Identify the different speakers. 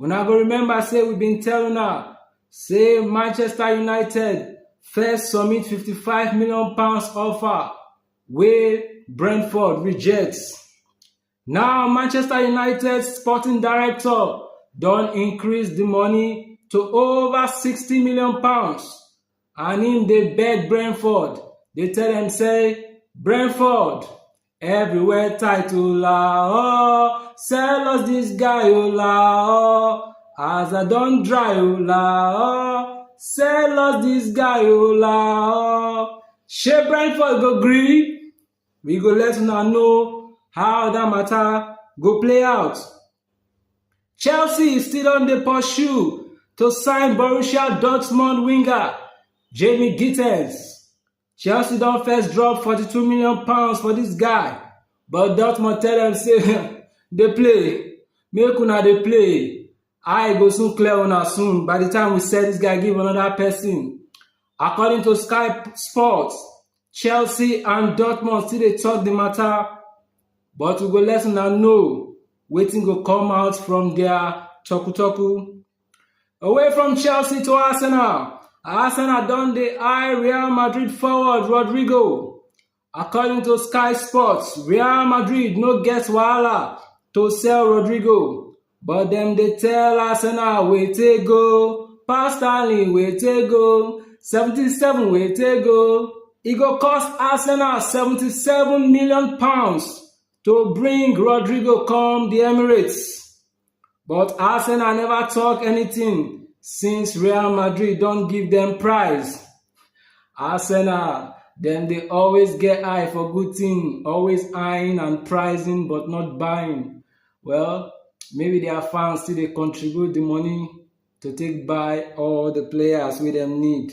Speaker 1: Una go remember say we bin tell una say Manchester United first submit £55 million offer wey Brentford reject. Now Manchester United sporting director don increase di money to over £60 million and im dey beg Brentford dey tell dem say Brentford Everywhere tight o la oh, sell us this guy o la oh. As I don dry o la oh, sell us this guy o la oh. Shey Brentford go gree? We go let una know how that matter go play out. Chelsea still on the pursue to sign Borussia Dortmund winger Jamie Gittens. Chelsea don first drop forty-two million pounds for dis guy, but Dortmund tell dem say dey play, make una dey play, eye go soon clear una soon by di time we sell dis guy give anoda pesin. According to Sky Sports, Chelsea and Dortmund still dey tok di mata, but we go let una know wetin go come out from dia toku-toku. Away from Chelsea to Arsenal, Arsenal don dey eye Real Madrid forward Rodrygo. According to Sky Sports, Real Madrid no get wahala to sell Rodrygo, but dem dey tell Arsenal wete go, pass Stanley wete go, 77 wete go. E go cost Arsenal 77 million pounds to bring Rodrygo come the Emirates. But Arsenal never talk anything since Real Madrid don give them prize. Arsenal, dem dey always get eye for good thing, always eyeing and prizing but not buying. Well, maybe their fans still dey contribute the money to take buy all the players wey dem need.